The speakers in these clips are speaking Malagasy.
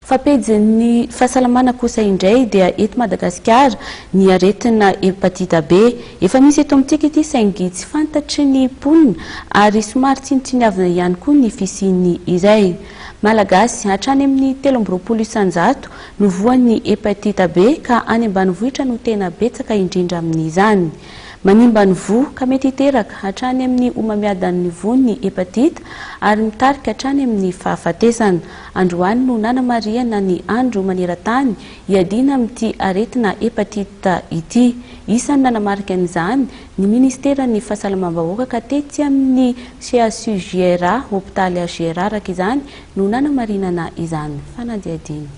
Fa pejin'ny fahasalamana kosa indray dia eto Madagasikara ny aretina hepatita B. Efa misy eto amintsika ity saingy tsy fantatry ny mponina ary somary tsinontsiniavina ihany koa ny fisian'ny iray. Malagasy hatrany amin'ny telo amby roapolo isan-jato no voan'ny hepatita B ka any ambanivohitra no tena betsaka indrindra amin'izany. Manimba ny voa ka mety hiteraka hatrany amin'ny homamiadan'ny voa ny hepatita ary mitarika hatrany amin'ny fahafatesana. Androany no nanamarihana ny andro maneran-tany hiadiana amin'ity aretina hepatite ity. Isan'ny nanamarika an'izany ny ministeran'ny fahasalamam-bahoaka ka tetsy amin'ny CHU JRA, hopitaly HJRA araka izany no nanamarinana izany fanadihadiana.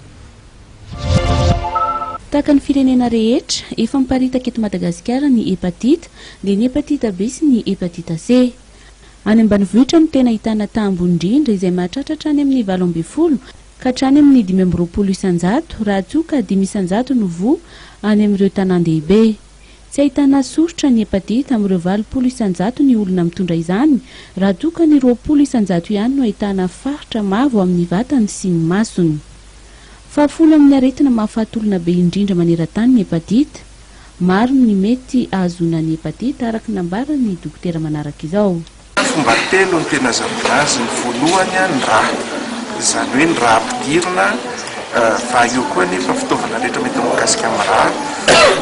Tahaka ny firenena rehetra, efa miparitaka eto Madagasikara ny hepatite, dia ny hepatite B sy ny hepatite C. Any ambanivohitra no tena ahitana taha ambony indrindra izay mahatratra hatrany amin'ny valo ambin'ny folo ka hatrany amin'ny dimy amby roapolo isan-jato raha toa ka dimy isan-jato no voa any amin'ireo tanàn-dehibe. Tsy ahitana soritra ny hepatite amin'ireo valopolo isan-jato ny olona mitondra izany raha toa ka ny roapolo isan-jato ihany no ahitana faritra mavo amin'ny vatany sy ny masony. Fahafolo amin'ny aretina mahafaty olona be indrindra maneran-tany ny hepatite. Maro ny mety ahazoana ny hepatite araka ny nambaran'ny dokotera manaraka izao. Fomba telo no tena azahoana azy, ny voalohany ny rà, izany hoe ny rà ampidirina fa eo koa anefa fitaovana rehetra mety mikasika amin'ny rà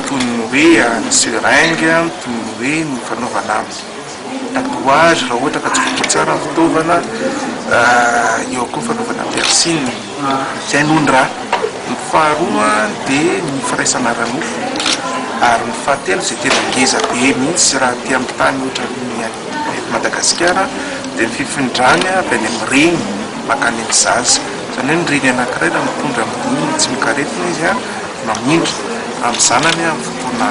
toy ny hoe ny seringue, toy ny hoe ny fanaovana amin'ny. tatouage raha ohatra ka tsy voadio tsara ny fitaovana, eo koa ny fanaovana piercing, izay no ny ra, ny faharoa dia ny firaisana ara-nofo, ary ny fahatelo izay tena ngeza be mihintsy raha aty amin'ny tany ohatran'ny any eto Madagasikara dia ny fifindrany avy any amin'ny reny mankany amin'ny zaza, izany hoe ny reny anankiray raha mitondra amin'ny dingana tsy mikaretina izy mamindra amin'ny zanany amin'ny fotoana.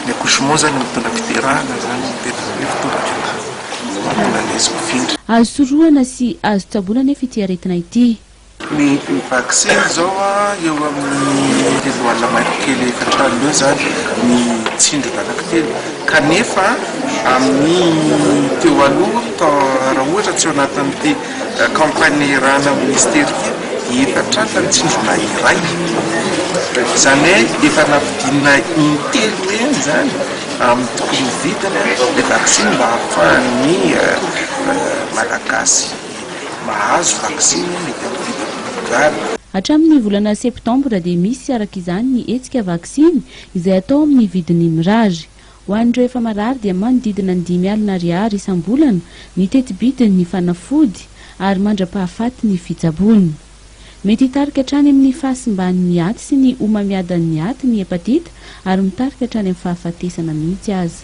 ny accouchement zany mitondra fiderahana zany ny tena hoe fitondra fianarana mahatonga ny azy mifindra. Azo sorohana sy azo tsaboina anefa ity aretina ity. Ny vaksiny zao a eo amin'ny telo alina mahefa kely efatra alina eo zany ny tsindrona anankitelo kanefa amin'ny teo aloha raha ohatra tsy ao anatin'ity. Accompagner-ana Minisitera efa tratran'ny tsindrona iray. Izany hoe efa nampidinina in-telo eny izany amin'ny tokony ho vitany ilay vaksiny mba hahafahan'ny Malagasy mahazo vaksiny mety hampitam-po izany. Hatramin'ny volana septambra dia misy araka izany ny hetsika vaksiny izay atao amin'ny vidiny mirary. Ho an'ireo efa marary dia manodidina ny dimy alina ariary isam-bolana ny teti-bidin' ny fanafody ary mandra-pahafaty ny fitsaboana. Mety hitarika hatrany amin' ny fahasimbany ny aty sy ny homamiadan' ny aty ny hepatita ary mitarika hatrany amin'ny fahafatesana mihitsy aza.